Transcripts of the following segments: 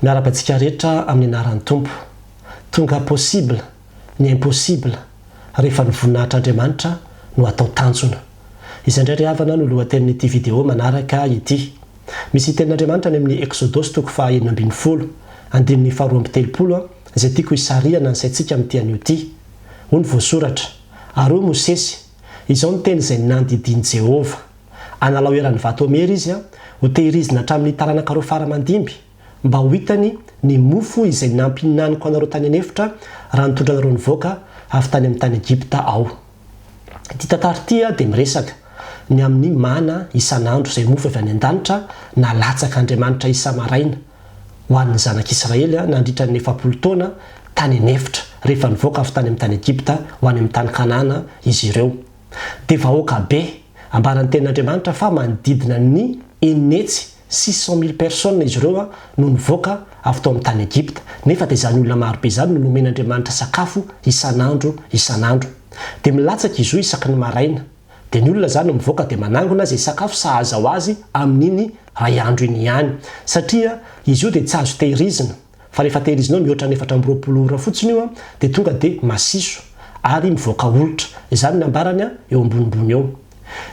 Miarahaba antsika rehetra amin'ny anaran'ny Tompo. Tonga possible ny impossible rehefa ny voninahitr'Andriamanitra no atao tanjona. Izay indray ry havana no lohatenin'ity video manaraka ity. Misy tenin'Andriamanitra any amin'ny Eksodosy toko faha enina ambin'ny folo, andininy faha roa amby telopolo izay tiako hisarihana ny saintsika amin'ity anio ity. Hoy ny voasoratra, Ary hoy Mosesy, Izao no teny izay nandidian'i Jehovah, Analao eran'ny vato amera izy, hotehirizina hatramin'ny taranaka roa fara aman-dimby, mba ho hitany ny mofo izay nampihinaniko anareo tany an-efitra, raha nitondra anareo nivoaka avy tany amin'ny tany Egypta aho. Ity tantara ity dia miresaka ny amin'ny mana isan'andro, izay mofo avy any an-danitra nalatsak'Andriamanitra isa-maraina, ho an'ny Zanak'Israely nandritra ny efapolo taona tany an'efitra, rehefa nivoaka avy tany amin'ny tany Egypta ho any amin'ny tany Kanana izy ireo. Dia vahoaka be. Ambaran'ny Tenin'Andriamanitra fa manodidina ny enina hetsy, six cent mille personnes, izy ireo no nivoaka avy tao amin'ny tany Egypta. Nefa dia izany olona maro be izany no nomen'Andriamanitra sakafo isan'andro isan'andro. Dia milatsaka izy io isaky ny maraina. Dia ny olona izany mivoaka dia manangona izay sakafo sahaza ho azy amin'iny iray andro iny ihany. Satria izy io dia tsy azo tehirizina. Fa rehefa tehirizinao mihoatra ny efatra amby roapolo ora fotsiny io dia tonga dia masiso. Ary mivoaka olitra. Izany ny ambarany eo ambonimbony eo.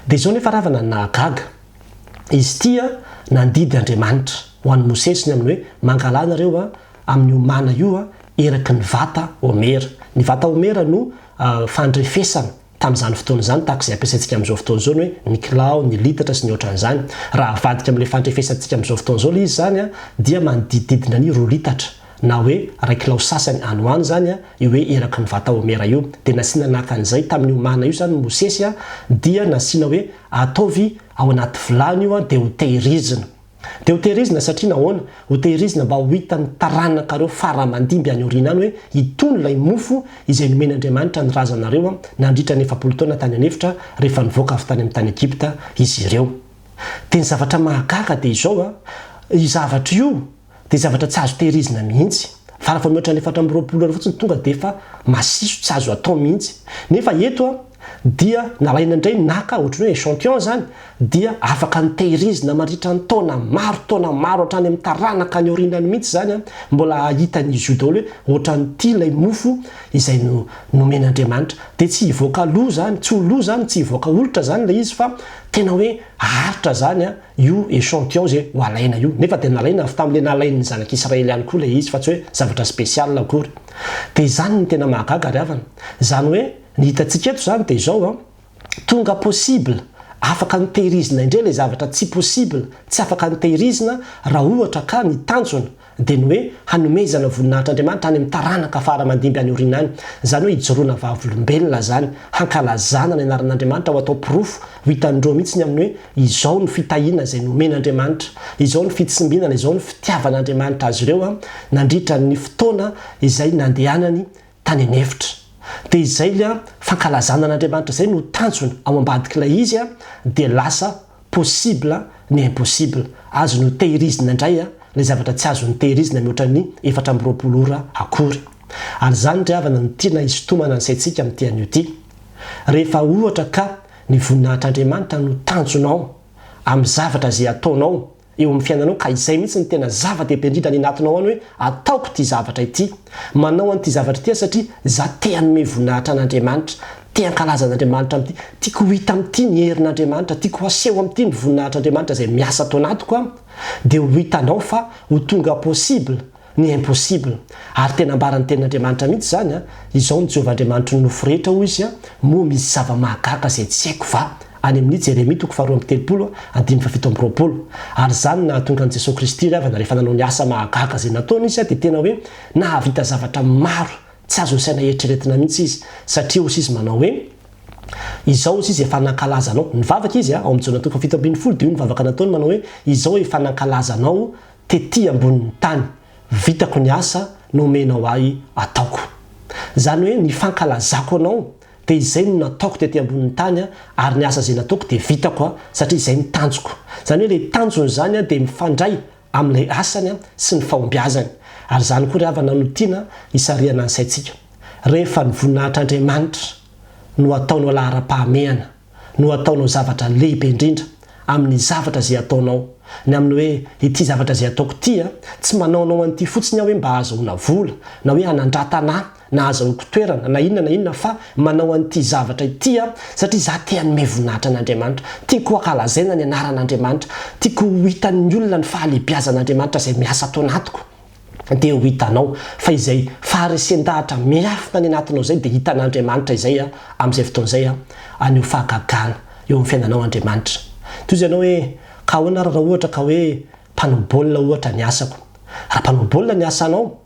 Dia izao nefa ravana ny nahagaga. Izy ity nandidy Andriamanitra ho an'i Mosesy ny amin'ny hoe mangalà nareo amin'io mana io eraky ny vata homera. Ny vata homera no fandrefesana. Tamin'izany fotoana izany, tahaka izay ampiasaintsika amin'izao fotoana izao ny hoe ny kilao, ny litatra sy ny ohatran'izany. Raha avadika amin'ilay fandrefesantsika amin'izao fotoana izao ilay izy izany dia manodidididina ny roa litatra na hoe iray kilao sasany any ho any izany io hoe eraky ny vata homera io. Dia nasiana naka an'izay tamin'io mana io izany Mosesy dia nasiana hoe ataovy ao anaty vilany io dia hotehirizina. Dia ho tehirizina satria nahoana? Ho tehirizina mba ho hitan'ny taranakareo fara aman-dimby any aoriana any hoe itony ilay mofo izay nomen'Andriamanitra ny razanareo nandritra ny efapolo taona tany an'efitra rehefa nivoaka avy tany amin'ny tany Egypta izy ireo. Dia ny zavatra mahagaga dia izao, io zavatra io dia zavatra tsy azo tehirizina mihitsy. Fara faha mihoatra ny efatra amby roapolo ora fotsiny tonga dia efa masiso, tsy azo atao mihitsy. Nefa eto, Dia nalaina indray naka ohatran'ny hoe echantillon izany dia afaka nitehirizina mandritra ny taona maro taona maro hatrany amin'ny taranaka any aoriana any mihitsy izany an, mbola hahitan'izy io daholo hoe ohatran'ity ilay mofo izay nomen'Andriamanitra. Dia tsy hivoaka lo izany, tsy ho lo izany, tsy hivoaka olitra izany ilay izy fa tena hoe haharitra izany an, io echantillon izay ho alaina io. Nefa dia nalaina avy tamin'ilay nalain'ny zanak'Israely ihany koa ilay izy fa tsy hoe zavatra spécial akory. Dia izany no tena mahagaga ry havana. Izany hoe Ny hitantsika eto izany dia izao an, tonga possible, afaka notehirizina indray ilay zavatra tsy possible, tsy afaka notehirizina, raha ohatra ka ny tanjona dia ny hoe hanomezana voninahitr'Andriamanitra any amin'ny taranaka fara mandimby any aoriana any, izany hoe hijoroana vavolombelona izany, hankalazana ny anaran'Andriamanitra ho atao porofo ho hitan'ny roa mihitsy ny amin'ny hoe izao no fitahiana izay nomen'Andriamanitra, izao no fitsimbinana, izao no fitiavan'Andriamanitra azy ireo an, nandritra ny fotoana izay nandehanany tany an'efitra. Dia izay ilay fankalazana an'Andriamanitra izay no tanjona ao ambadik'ilay izy dia lasa possible ny impossible, azony ho tehirizina indray ilay zavatra tsy azony tehirizina mihoatra ny efatra amby roapolo ora akory. Ary izany ry havana no tiana hisintomana ny saintsika amin'ity anio ity. Rehefa ohatra ka ny voninahitr'Andriamanitra no tanjonao amin'ny zavatra izay ataonao eo amin'ny fiainanao ka izay mihitsy no tena zava-dehibe indrindra any anatinao any hoe ataoko ity zavatra ity. Manao an'ity zavatra ity aho satria za te hanome voninahitra an'Andriamanitra, te hankalaza an'Andriamanitra amin'ity, tiako ho hita amin'ity ny herin'Andriamanitra, tiako haseho amin'ity ny voninahitr'Andriamanitra izay miasa ato anatiko an! dia ho hitanao fa ho tonga possible Ny impossible. Ary tena ambaran'ny tenin'Andriamanitra mihitsy izany an, Izao no Jehovah Andriamanitry ny nofo rehetra, hoy izy, Moa misy zava-mahagaga izay tsy haiko va? Any amin'ny Jeremia toko faharoa amby telopolo, andininy fahafito amby roapolo. Ary izany no nahatonga an'i Jesoa Kristy Ravana rehefa nanao ny asa mahagaga izay nataony izy dia tena hoe nahavita zavatra maro tsy azon'ny saina eritreretina mihitsy izy satria hozy izy manao hoe Izao hozy izy efa nankalaza anao. Nivavaka izy ao amin'ny Jaona toko fahafito ambin'ny folo dia io ny vavaka nataony manao hoe Izao efa nankalaza anao tety ambonin'ny tany, vitako ny asa nomenao ahy ataoko. Izany hoe ny fankalazako anao dia izay no nataoko tety ambonin'ny tany ary ny asa izay nataoko dia vitako satria izay ny tanjoko. Izany hoe ilay tanjony izany dia mifandray amin'ilay asany sy ny fahombiazany. Ary izany koa ry havana no tiana hisarihana ny saintsika. Rehefa ny voninahitr'Andriamanitra no ataonao laharam-pahamehana. no ataonao zavatra lehibe indrindra amin'ny zavatra izay ataonao, ny amin'ny hoe ity zavatra izay ataoko ity an, tsy manaonao an'ity fotsiny aho hoe mba hahazoana vola, na hoe hanandratana ahy, na hahazahoako toerana, na inona na inona, fa manao an'ity zavatra ity aho satria izaho te hanome voninahitra an'Andriamanitra, tiako hankalazaina ny anaran'Andriamanitra, tiako ho hitan'ny olona ny fahalehibiazan'Andriamanitra izay miasa ato anatiko. dia ho hitanao fa izay faharesen-dahatra miafina any anatinao izay dia hitan'Andriamanitra izay amin'izay fotoana izay haneho fahagagana eo amin'ny fiainanao Andriamanitra. Toy izay ianao hoe, ka ahoana ary raha ohatra ka hoe mpanao baolina ohatra ny asako? Raha mpanao baolina ny asanao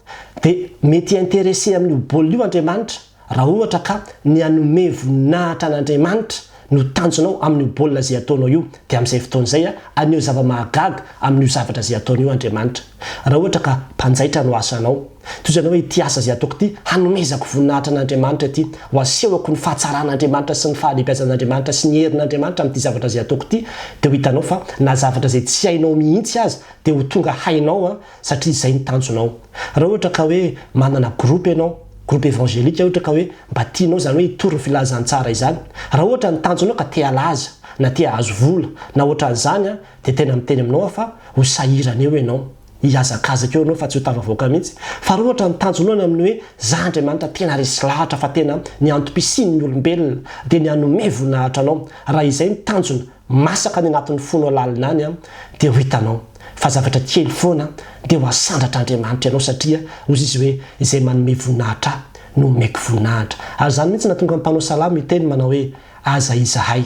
dia mety hi-interesser amin'io baolina io Andriamanitra. Raha ohatra ka ny hanome voninahitra an'Andriamanitra no tanjonao amin'io baolina izay ataonao io, dia amin'izay fotoana izay haneho zava-mahagaga amin'io zavatra izay ataonao io Andriamanitra. Raha ohatra ka mpanjaitra no asanao, toy izany hoe ity asa izay ataoko ity, hanomezako voninahitra an'Andriamanitra ity, ho asehoko ny fahatsaran'Andriamanitra sy ny fahalehibiazan'Andriamanitra sy ny herin'Andriamanitra amin'ity zavatra izay ataoko ity, dia ho hitanao fa na zavatra izay tsy hainao mihitsy aza dia ho tonga hainao. satria izay ny tanjonao raha ohatra ka hoe manana groupe ianao, groupe evangelique ohatra ka hoe mba tianao izany hoe hitory ny filazantsara izany, raha ohatra ny tanjonao ka te halaza na te hahazo vola na ohatran'izany an, dia tena miteny aminao aho fa ho sahirana eo ianao, hihazakazaka eo ianao fa tsy ho tafavoaka mihitsy, fa raha ohatra ny tanjonao ny amin'ny hoe za Andriamanitra tena resy lahatra fa tena ny antom-pisian'ny olombelona dia ny hanome voninahitra anao, raha izay ny tanjona, masaka any anatin'ny fo nao lalina any an, dia ho hitanao fa zavatra kely foana dia ho asandratra Andriamanitra ianao satria hozy izy hoe izay manome voninahitra ahy no omeko voninahitra ary izany mihitsy nahatonga ny mpanao salamo hiteny manao hoe aza izahay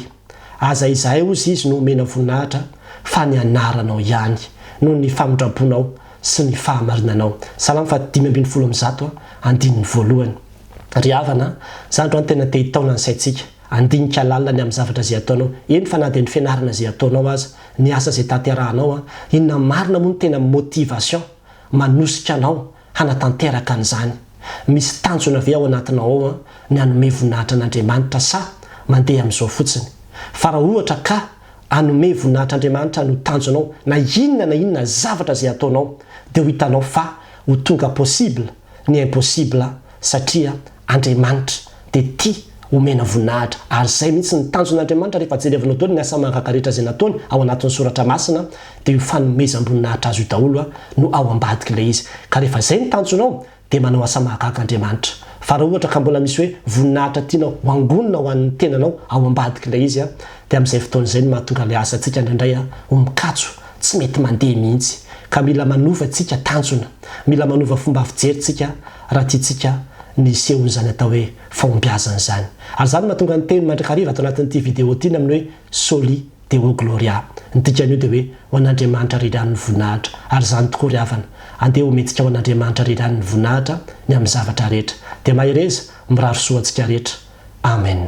aza izahay hozy izy no omena voninahitra fa ny anaranao ihany noho ny famindrabonao sy ny fahamarinanao salamo faha dimy ambin'ny folo amby zato andininy voalohany ry havana zandry an tena te hitaona ny saintsika Andinika lalina ny amin'ny zavatra izay ataonao. Eny fa na dia ny fianarana izay ataonao aza, ny asa izay tanterahanao an, inona marina moa no tena motivation manosika anao hanatanteraka an'izany? Misy tanjona ve ao anatinao ao an, ny hanome voninahitra an'Andriamanitra sa mandeha amin'izao fotsiny? Fa raha ohatra ka hanome voninahitra Andriamanitra no tanjonao na inona na inona zavatra izay ataonao dia ho hitanao fa ho tonga possible ny impossible satria Andriamanitra dia tia omena voninahitra ary izay mihitsy ny tanjon' Andriamanitra rehefa jerevinao daholo ny asa mahagaga rehetra izay nataony ao anatin'ny soratra masina dia io fanomezam-boninahitra azy io daholo no ao ambadiky ilay izy ka rehefa izay ny tanjonao dia manao asa mahagaga Andriamanitra fa raha ohatra ka mbola misy hoe voninahitra tianao hoangonina ho an'ny tenanao ao ambadiky ilay izy dia amin'izay fotoana izay no mahatonga ilay asantsika indraindray ho mikatso tsy mety mandeha mihitsy ka mila manova tsika tanjona mila manova fomba fijery tsika Raha tiantsika ny hisehoan'izany atao hoe fahombiazana izany, ary izany no mahatonga ny teny mandrakariva ato anatin'ity video ity ny amin'ny hoe Soli Deo Gloria, ny dikan'io dia hoe ho an'Andriamanitra ry ihany ny voninahitra, ary izany tokoa ry havana, andeha homentsika ho an'Andriamanitra ry ihany ny voninahitra ny amin'ny zavatra rehetra, dia mahereza, mirary soa antsika rehetra. Amen.